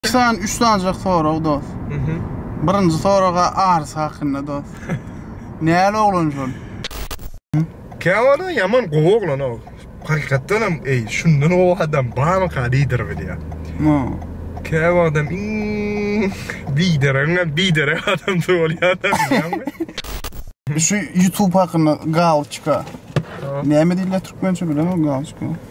İki sany, üç sanjak sorag dost. Birinci soraga arys hakynda dost. Näli oglan şol? Käwada ýaman gowy oglan o. Hakykatdan hem eý, şundan gowy adam barmyka diýdir bir ýa. No. Käwada adam iň bideregiňem biderek adamsy bolýar da bilýäňmi? Şu YouTube hakynda galçka. Näme diýilýär türkmençe bilemok galçka.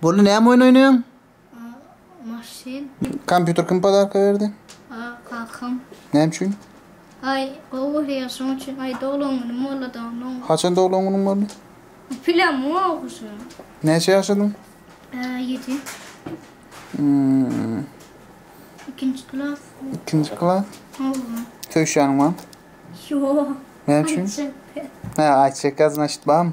Boldy näme oýun oýnaýaň? Maşyn. Kompýuter kim podarka berdi? Kakam. Näme üçin? Aý, gowy görýär şoň üçin. Aý, doglan güni mollada onuň. Haçan doglan günüň boldy? Pilam ýok şu. Näçe ýaşadyň? Ýedi. Ikinji klas. Ikinji klas? Owwa. Söýşýäniň barmy? Ýok. Näme üçin? Aýt çekýär. Hä, aýt çekýär, znaçit barmy?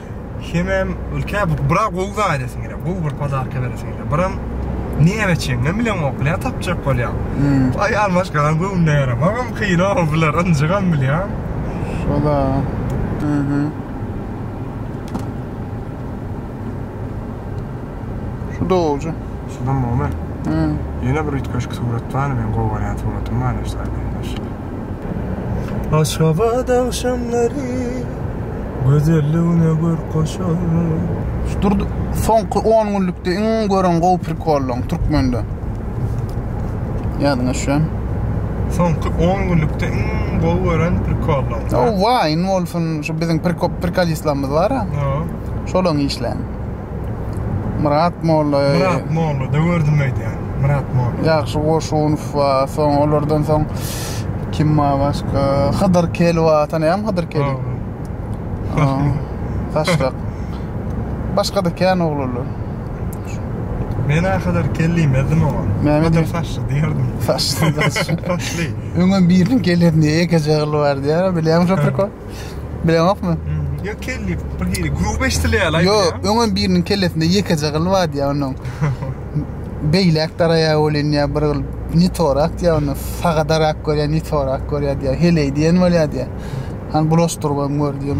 Hemem ülke bu bura gowy gaýdasyn gelýär. Gowy bir podarka beresin gelýär. Biram näme çeňňem bilen oklýar tapjak bolýar. Aýal maşgalam göwnüne ýaramagam kyn o bular ynjygam bilýän. Şola. Aha. Şu dogja. Şudan bolma. Ýene bir üýtgeşik surat barmy? Men gowy görýän suratymy barlaşdyraýyn. Aşgabat agşamlary gözelligine görk goşar. Şu durdy soňky on günlükde iň gören gowy prikollyň türkmende. Ýadyňa düşen. Soňky on günlükde iň gowy gören prikollyň. O Wine bolsun, şu biziň prikop prikolistlerimiz bar-a. Şolaryň işlerini. Myrat Molla. Myrat Molla da gördüm aýdýan. Myrat Molla. Ýagşy Goşunow we soň olardan soň kim ma başga? Hydyr Kel we tanaýam Hydyr Kel. Başga. Başga da kän oglanlar. Men ahyr kelli medim oňa. Mehmet Saşy diýerdim. Saşy. Öňe biriň geleni ýekeje gyl bar diýýär. Bilýäň şo prikol? Bileňokmy? Hmm, Ýa kelli bir hili gruba eşitilýär. Yo, öňem biriniň kellesinde ýekeje gyl bardy ýa onuň. Beýläk daraýa bolýan ýa bir gyl ne torak diýä ony saga darak görýä ne torak görýä diýä. Heleý diýen bolýa diýä. Han bulaşdyryp hem gör diýen.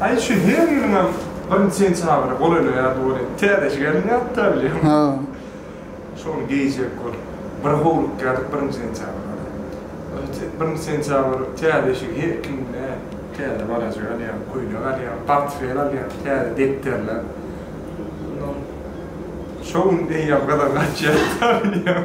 Aý şu her ýylyňam birinji sentýabra bolany ýaly bolýar. Täzeçe gelin ýatda bilýän. Hä. Şony geýjek bolup bir howlukýardyk birinji sentýabra. Birinji sentýabr täze eşigi her kim ne täze balajyk alýar, köýnek alýar, portfel alýar, täze depderler. Şo gün eýýäm gyzygy gaçýar ýatda bilýän.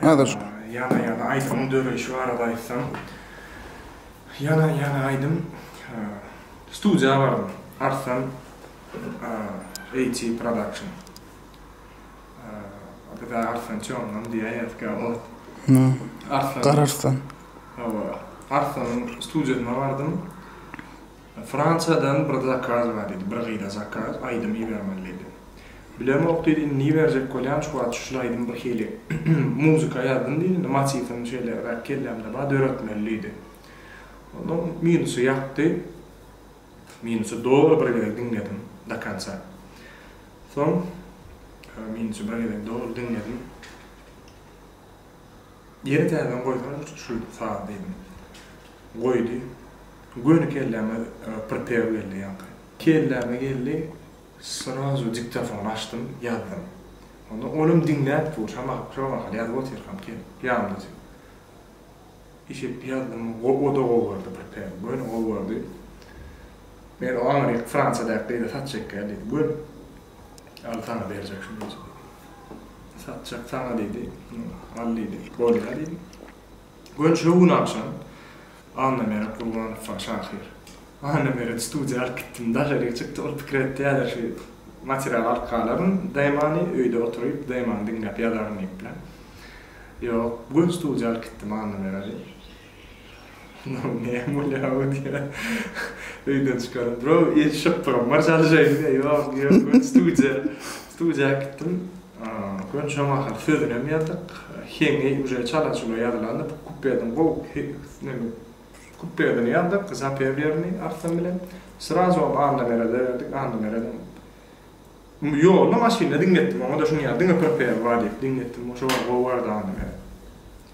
Häzir şu. Ýana ýana aýdymyň döreýşi barada aýtsam, ýana ýana aýdym studiýa bardym, Arslan AT Production. Biz Arslan Çomman diýýän edik ot. Arslan. Gararslan. Hawa, Arslanyň studiýasyna bardym. Fransiýadan bir zakaz bar diýdi. Bir gyza zakaz, aýdym ibermeli diýdi. Bilemok diýdi, indi iberjek bolýan, şu wagt şul aýdymy birhili muzika ýazdym diýdi, indi motiwini şeýleräk kellämde bar, döretmeli diýdi. Onda minusy ýakdy. Minusy doly bir gezek diňledim do konca. Soň minusy bir gezek doly diňledim. Ýene täzeden goýsaňyz şul saz diýdim. Goýdy. Göni kelläme pripeo geldi ýaňky. Kelläme geldi, srazu diktofony açdym, ýazdym. Onda olam diňläp dur, şa mahaly, şo mahaly ýazyp otyrkam gelip, ýanymda otyr. Eşidip ýazdym, o-da gowy boldy, pripeo, göni gowy boldy. Men oňa diýip, Fransiýadaky gyza saç çekýän diýdim, göni. Al saňa berjek şu güýji diýdi. Satjak saňa diýdi. Al diýdi. Bolýa diýdim. Gön şo gün agşam Annameret Gurbanowa şahyr. Annameret studiýa alyp gitdim. Daşaryk çykdy. Ol pikir etdi häzir şu materialy alyp galaryn DMA-ny öýde oturyp DMA-ny diňläp ýazaryn diýipler. Ýok, gön studiýa alyp gitdim Annameredi. Murun näme bolýar awy diýýär. Öýden çykaram. Bro, el şypbyrym bar çalyşaýyn diýýär. Ýok, ýok, men studiýa, studiýa gitdim. Gön şoň ahyry sözünem ýazdyk. Heňi uje çala-çula ýazylandy. Bu kupledini gowy neme kupledini ýazdyk, zapewlerini Arslan bilen. Srazu ony Annamerede berdik. Annameredem Ýolda maşynda diňletdim. Oňa-da şuny ýaz, diňe prpw bar diýip diňletdim. Şoňa gowy bardy Annameret.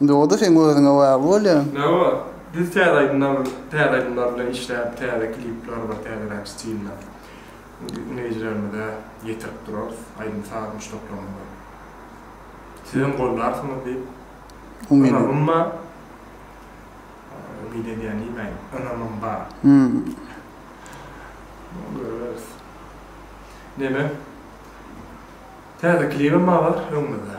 Indi o-da seň özüňe bagly bolýar. Nä bolar? Biz täze aýdymlar täze aýdymlar bilen işläp, täze klipler bar, täzeräk stilde diňleýjilerimize ýetirip durarys, aýdym-saz muşdaklarymyzy. Sizem gollarsyňyz diýip ynamym bar. Umyt edýän diýmäýin, ynamym bar. Görüberis. Neme? Täze klibem bar öňümizde.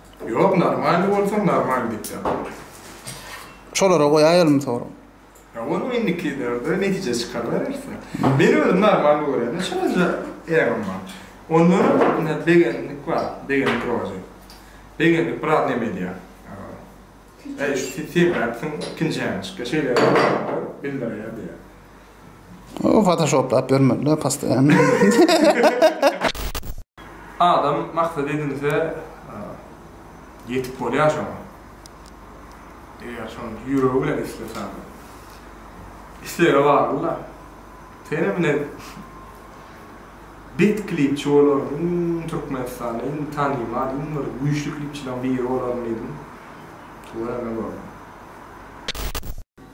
Ýok normalny bolsa normal diýip ýazaýyn. Şolara goýaýalmy sorag. Ýa onuň indikilerde netije çykaryberersiň. Men özüm normalny görýän-de şonda äňim bar. Onda ine begendik bar, begendik rozy. Begendik biraz neme edýär. Eee. Eý şu sen sebäpsiň ikinji äňi çykýar. Şeýle ýaly bolanda bildirýär diýýär. Fotoşoplap ýörmediler postoýanno. Adam maksat edinse ýetip bolýar şoňa. Eger şony ýüregi bilen islese. Islege baglyda. Senem ine bet klipçi bolaryn iň Türkmenistanda iň tanymal iň bir güýçli klipçileriň biri bolaryn diýdim. Göreme görme.